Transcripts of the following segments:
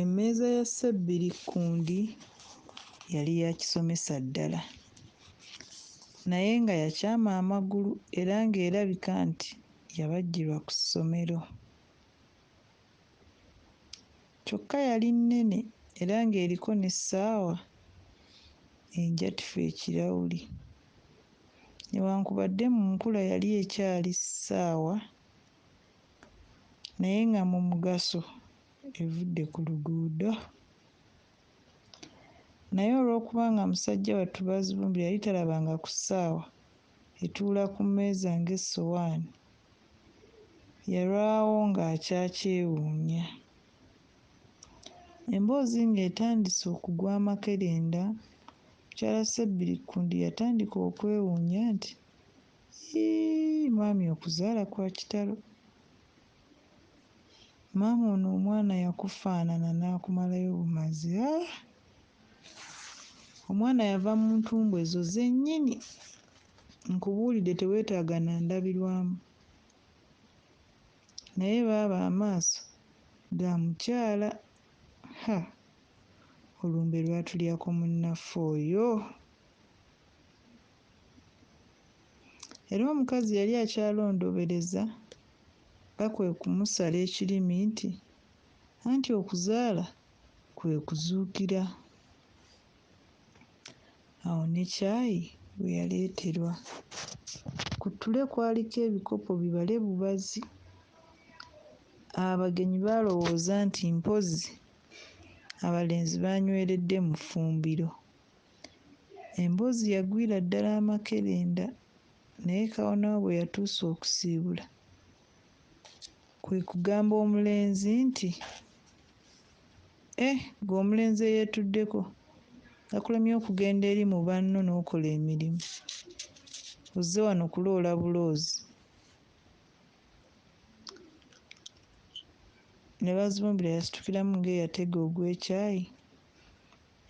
Emmeeza ya Ssebbirikkundi yali ya kisomesa ddala, naye nga yakyama amagulu era ng'erabika nti yabajjirwa ku ssomero. Kyokka yali nnene era ng'eriko n'essaawa enjatufu ekirawuli. Newankubadde mu nkula yali ekyali ssaawa. naye nga mu mugaso evudde ku luguudo naye olw'okuba nga musajja wattu Bazibumbira yali talabanga ku ssaawa etuula ku mmeeza ng'essowaani, yalwawo ng'akyakyewuunya. Emboozi ng'etandise okugwa amakerenda, mukyala Ssebirikkundi yatandika okwewuunya nti, Yii mwami okuzaala kwa kitalo. Maama ono omwana yakufaanana n'akumalayo bumazi aah! Omwana yava mu ntumbwe zo zennyini. Nkubuulidde teweetaaga na ndabirwamu. Naye baaba amaaso ga mukyala ha! Olumbe lwatulyako munnaffe oyo. Era omukazi yali akyalondoobereza nga kwe kumusala ekirimi nti, Anti okuzaala kwe kuzuukira. Awo ne caayi we yaleeterwa. Ku ttule kwaliko ebikopo bibale bubazi. Abagenyi baalowooza nti mpozzi abalenzi baanyweredde mu ffumbiro. Emboozi yagwira ddala amakerenda naye Kawonawo bwe yatuuse okusiibula kwe kugamba omulenzi nti, Eh, ggwe omulenzi eyeetuddeko, gakulemye okugenda eri mu banno n'okola emirimu, ozze wano kuloola buloozi? Ne Bazibumbira yasitukiramu ng'eyatega ogw'ekyayi.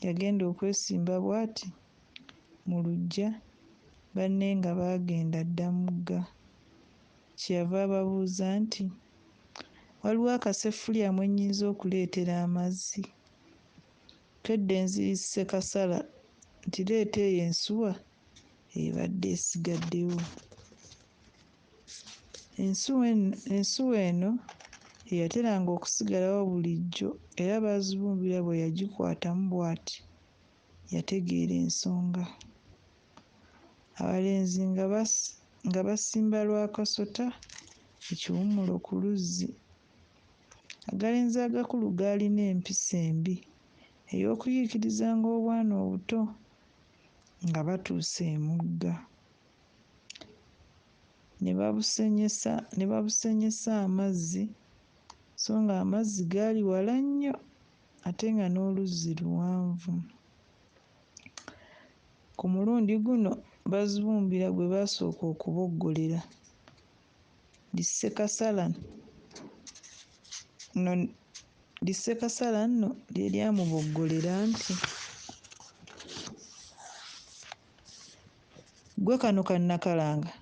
Yagenda okwesimba bwati mu luggya banne nga baagenda dda mugga. Kye yava ababuuza nti, Waliwo akaseffuliya mwe nnyinza okuleetera amazzi? Twedde nziri Ssekasala nti leeta eyo ensuwa ebadde esigaddewo. Ensuwa eno ye yateranga okusigalawo bulijjo era Bazibumbira bwe yagikwatamu bwati yategeera ensonga. Abalenzi nga basimba lwa kasota ekiwummulo ku luzzi. Agalenzi agakulu gaalina empisa embi ey'okuyiikirizanga obwana obuto nga batuuse emugga. ne babusenyesa ne babusenyesa amazzi so ng'amazzi gaali wala nnyo ate nga n'oluzzi luwanvu. Ku mulundi guno Bazibumbira gwe baasooka okuboggolera ndi Ssekasala no ndi Ssekasala nno lye lyamuboggolera nti. Ggwe kano ka nnakalanga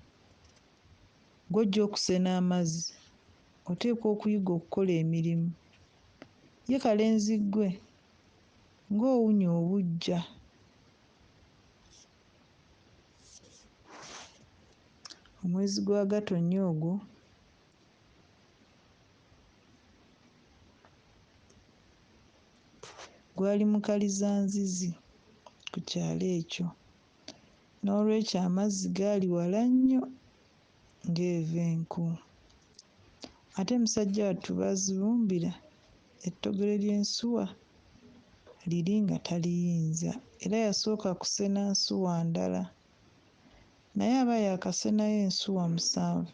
gw'ojja okusena amazzi oteekwa okuyiga okukola emirimu. Ye kalenzi ggwe ng'owunya obuggya! Omwezi gwa Gatonnya ogwo. Gwali mukalizanzizi ku kyalo ekyo, n'olwekyo amazzi gaali wala nnyo ng'eva enku. Ate musajja wattu baazibumbira ettogero ly'ensuwa liri nga taliyinza era yasooka kusena nsuwa ndala. Naye aba yaakasenayo ensuwa musanvu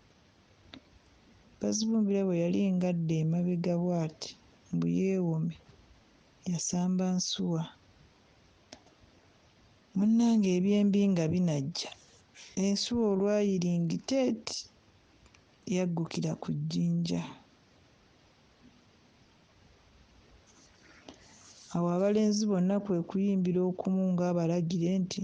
Bazibumbira bwe yali ng'adda emabega bw'ati mbu yeewome, yasamba nsuwa. Munnange eby'embi nga binajja, ensuwa olwayiringita eti yaggukira ku jjinja. Awo abalenzi bonna kwe kuyimbira okumu ng'abalagire nti.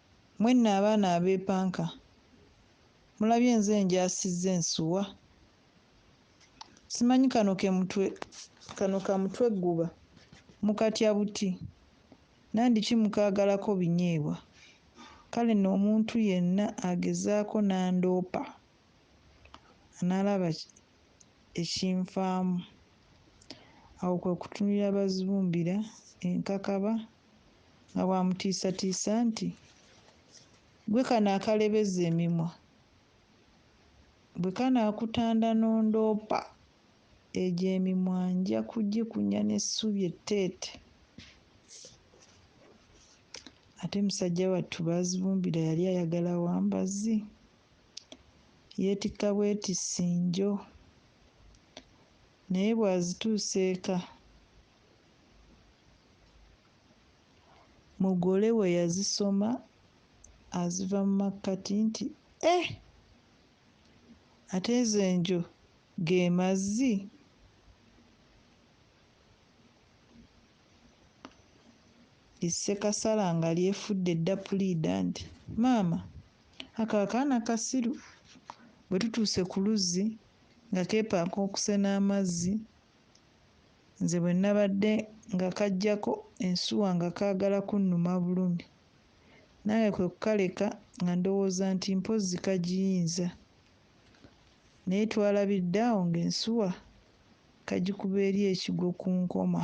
Mwenna abaana abeepanka mulabye nze njaasizza ensuwa. Simanyi kano ke mutwe kano ka mutwegguba mukatya buti? Nandiki mukaagalako binyeebwa? Kale nno omuntu yenna agezaako n'andoopa anaalaba ekinfaamu. Awo kwe kutunulira Bazibumbira enkakaba. nga bw'amutiisatiisa nti, Ggwe kano akalebeza emimwa, bwe kanaakutanda n'ondoopa, egyo emimwa nja kugikunya n'essubi etteete. Ate musajja wattu Baazibumbira yali ayagala wa mbazzi, yeetikka bwetissi njo, naye bw'azituusa eka, Mugole bwe yazisoma aziva mu makkati nti, Eh! Ate ezo enjo ge mazzi? Issekasala nga lyefudde dda puliida nti, Maama, ako akaana kasiru. Bwe tutuuse ku luzzi nga keepanka okusena amazzi, Nze bwe nnabadde nga kaggyako ensuwa nga kaagala kunnuma bulumi, nange kwe kukaleka nga ndowooza nti mpozzi kagiyinza. Naye twalabidde awo ng'ensuwa kagikuba eri ekigwo ku nkoma.